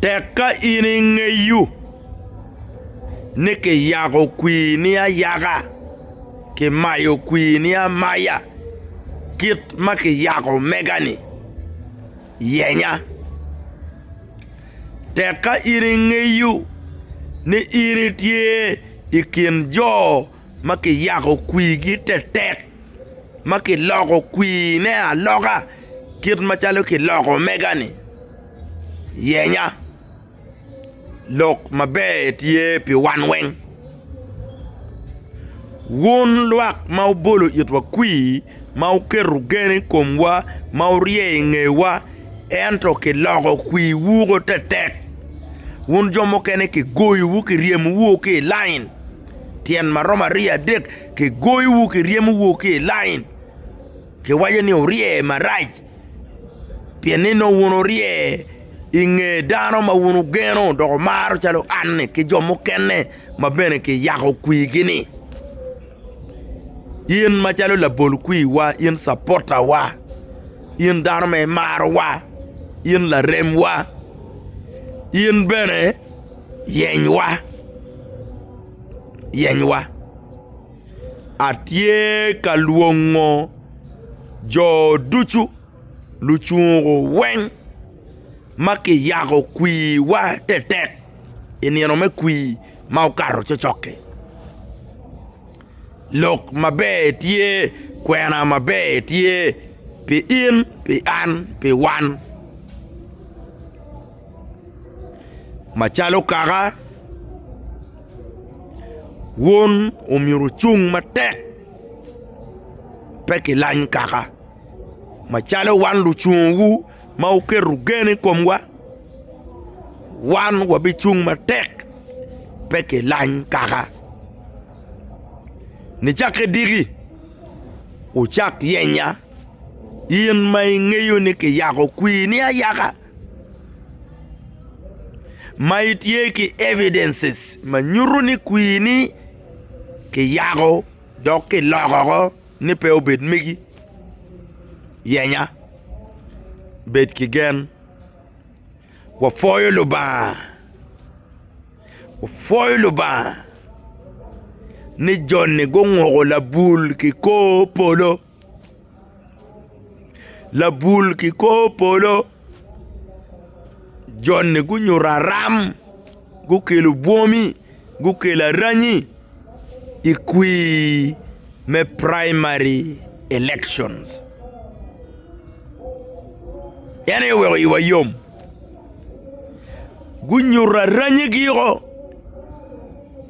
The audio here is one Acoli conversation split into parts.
Tek ka in ingeyo ni kiyako kwini ayaka, kimayo kwini amaya kit ma kiyako mega-ni, yenya. Tek ka in ingeyo ni in itye i kin jo ma kiyako kwirgi tetek, ma kiloko kwirne aloka kit macalo kiloko omega-ni, yenya, lok maber tye pi wan weng. Wun lwak ma wubolo itwa kwir, ma wuketo gen i komwa, ma wurye i ngewa, ento kiloko kwirwu woko tetek, wun jo mukene kigoyowu kiryemowu ki i lain. tyen ma romo aryo adek kigoyowu kiryemowu ki i lain kiwaco ni wurye marac pien ni nongo wun wurye i nge dano ma wun wugeno dok wumaro calo anni ki jo mukene ma bene kiyako kwigini in macalo labol kwiwa in capotawa in dano ma imarowa in laremwa in bene yenywa. yenywa. Atye ka lwongo jo ducu, lucungu weng ma kiyako kwiwa tetek i nino me kwii ma okato cokcok-ki. Lok maber tye, kwena maber tye pi in, pi an, pi wan. macalo kaka wun omyero wucung matek pe kilany kaka macalo wan lucungowu ma wuketo gen i komwa wan wabicung matek pe kilany kaka nicakke diki wucak yenya in ma ingeyo ni kiyako kwini ayaka. ma itye ki evidences ma nyuto ni kwini kiyako dok kiloko woko ni pe obed megi yenya bed ki gen wapwoyo Lubanga wapwoyo Lubanga ni joni gunguko labul ki kor polo. Labul ki kor polo joni gunyuto aram gukelo bwomi gukelo aranyi i kwir me primary election en aye oweko iwa yom gunyuto aranyigi o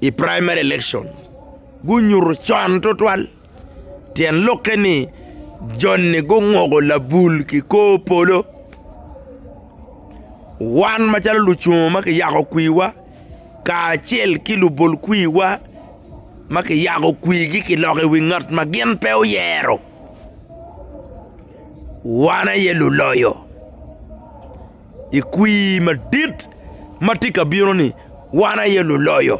i primary election gunyuto con tutwal. Tyen lokke ni joni gunguko labul ki kor polo wan macalo lucungo ma kiyako kwiwa kacel ki lubol kwiwa ma kiyako kwigi kiloko i wi ngat ma gin pe oyero wan aye luloyo i kwir madit ma tye ka bino-ni wan aye luloyo.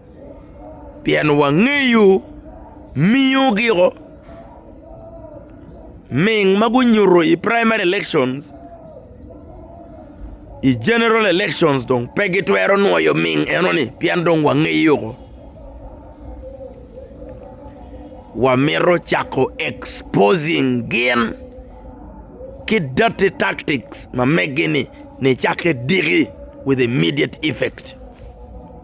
pien wangeyo miyo giko ming ma gunyuto i primary election i general election dong pe gitwero nwoyo ming eno ni pien dong wangeyo woko wamito cako exposing gin ki dirty tactics ma megi ni nicake diki with immediate effect.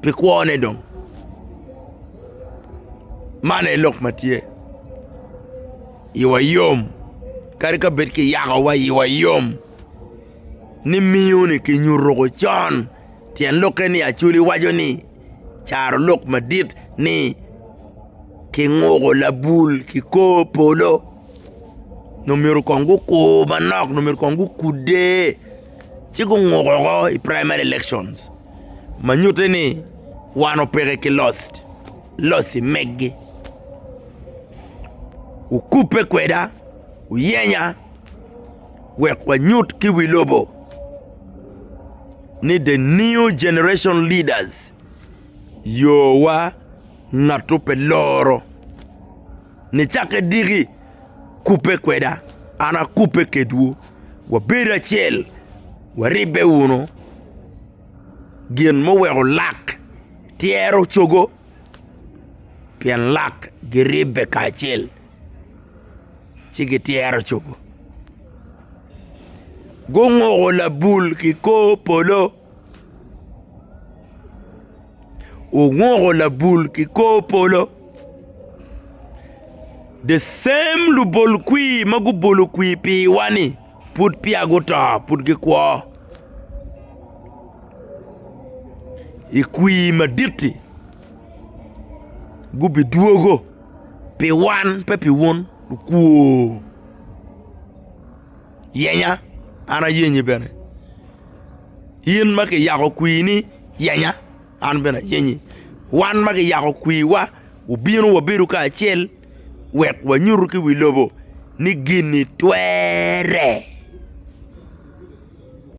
pi kwone dong. Man aye lok ma tye, iwa yom kadi ka bed kiyakowa iwa yom ni miyo-ni kinyutuko con. Tyen lokke ni Acholi waco ni caro lok madit ni kinguko labul ki kor polo nongo myero kong gukur manok nongo myero kong gukudde ci gunguko oko i primary elections. ma nyutte ni wano peke ki loc-ci megi. Wukubbe kweda, wuyenya wek wanyut ki wi lobo ni The New Generation Leaders yowa ngatwu pe loro. Nicakke diki, kubbe kweda, an akubbe kedwu, wabedo acel, waribbe wunu. Gin muweko lak tyero cogo, pien lak giribbe kacel, ci gityero cogo. Gunguko labul ki kor polo. Owuko labul ki kor polo. The same lubol kwir ma gubolo kwir piwa-ni pud peya guto, pud gikwo i kwir madit-ti gubidwogo pi wan pe pi wun lukwor. yenya, an ayenyi bene. In ma kiyako kwini, yenya, an bene ayenyi. Wan ma kiyako kwiwa, wubino wabedo kacel wek wanyutu ki wi lobo ni gin-ni twerre.